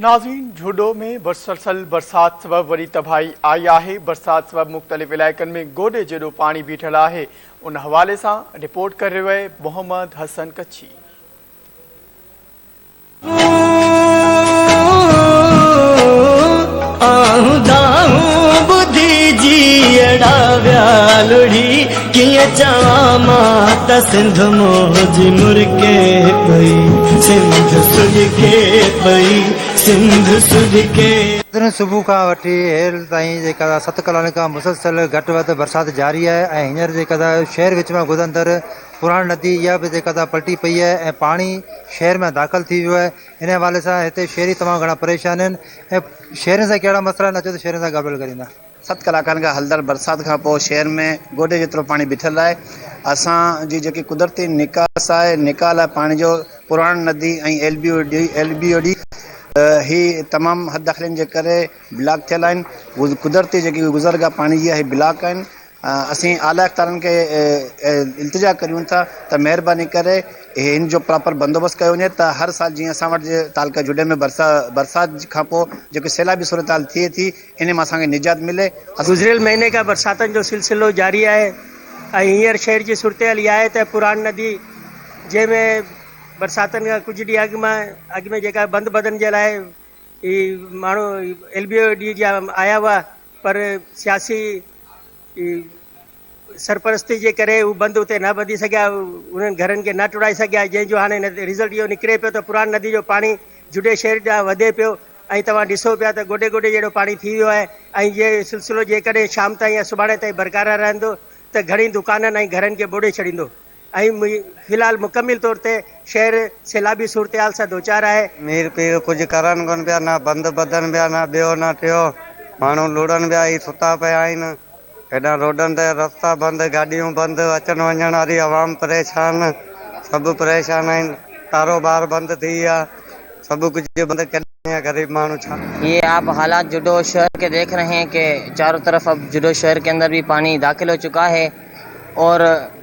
ناظرين جهوڏو ۾ مسلسل برسات سبب وڏي تباهي آئي آهي، برسات سبب مختلف علائقن ۾ گوڏي جيڏو پاڻي بيٺل آهي، ان حوالي سان رپورٽ ڪري رهيو آهي محمد حسن ڪڇي. ڪيئن چوان مان ته سنڌ منهنجي مرڪي پئي سنڌ سڏڪي پئي سنڌ سڏڪي. بدين صبح کان وٺي هيل تائين جي قضا ست ڪلالن کان مسلسل گهٽ وڌ برسات جاري آهي ۽ هينئر جي قضا شهر وچ مان گذرندڙ پراڻي ندي اها به جي قضا پلٽي پئي آهي ۽ پاڻي شهر ۾ داخل ٿي ويو آهي انهي حوالي سان هتي شهري تمام گهڻا پريشان آهن ۽ شهرين سان ڪهڙا مسئلا آهن اچو ته شهرين سان ڳالهه ٻولهه ڪريون ٿا. ست ڪلاڪن کان هلندڙ برسات کان پوء شهر ۾ گوڏي جيترو پاڻي بيٺل آهي، اسان جي جيڪي قدرتي نڪاس آهي، نڪاح لاء پاڻي جو پراڻ ندي ۽ ايل بي او ڊي هي تمام حد داخلين جي ڪري بلاڪ ٿيل آهن، قدرتي جيڪي گذرگاهه پاڻي جي هي بلاڪ آهن، اسين اعليٰ اختيارين کي التجا ڪريون ٿا ته مهرباني ڪري هن جو پراپر بندوبست ڪيو وڃي ته هر سال جيئن اسان وٽ تعلقه جوڏي ۾ برسات کان پوء جيڪي سيلابي صورتحال ٿئي ٿي، انهي مان اسان کي نجات ملي اسان. گذريل مهيني کان برساتن جو سلسلو جاري آهي ۽ هينئر شهر جي صورتحال اها آهي ته پراڻ ندي جنهن ۾ برساتن کان ڪجهه ڏينهن اڳ مان اڳ ۾ جيڪا بند ٻڌڻ جي لاء هي ماڻهو ايل بي او ڊي جا آيا هئا پر سياسي جي سرپرستي جي ڪري هو بند اتي نه ٻڌي سگهيا، انهن گهرن کي نه ٽوڙائي سگهيا، جنهن جو هاڻي رزلٽ اهو نڪري پيو ته پراڻ ندي جو پاڻي جوڊي شهر ڏانهن وڌي پيو ۽ توهان ڏسو پيا ته گوڏي گوڏي جهڙو پاڻي ٿي ويو آهي ۽ اهو سلسلو جيڪڏهن شام تائين يا سڀاڻي تائين برقرار رهندو ته گهڻي دڪانن ۽ گهرن کي ٻوڏي ڇڏيندو. اهي مي في الحال مڪمل طور تي شهر سيلابي صورتحال سان دوچار آهي. مير پير ڪجهه ڪرن ڪونه پيا، نه بند ٻڌن پيا، نه ٻيو نه ٽيو، ماڻهو لڙن پيا، هي ستا پيا آهن، هيڏانهن روڊن تي رستا بند، گاڏيون بند، اچڻ وڃڻ واري عوام پريشان، سڀ پريشان آهن، ڪاروبار بند ٿي ويا، سڀ ڪجهه بند، ڪيڏانهن وڃي غريب ماڻهو ڇا. يي آپ حالات جوڊو شهر ڪي ديک رهي هين ڪي چارو طرف اب جوڊو شهر ڪي اندر بي پاني داخل هو چڪا هي اور.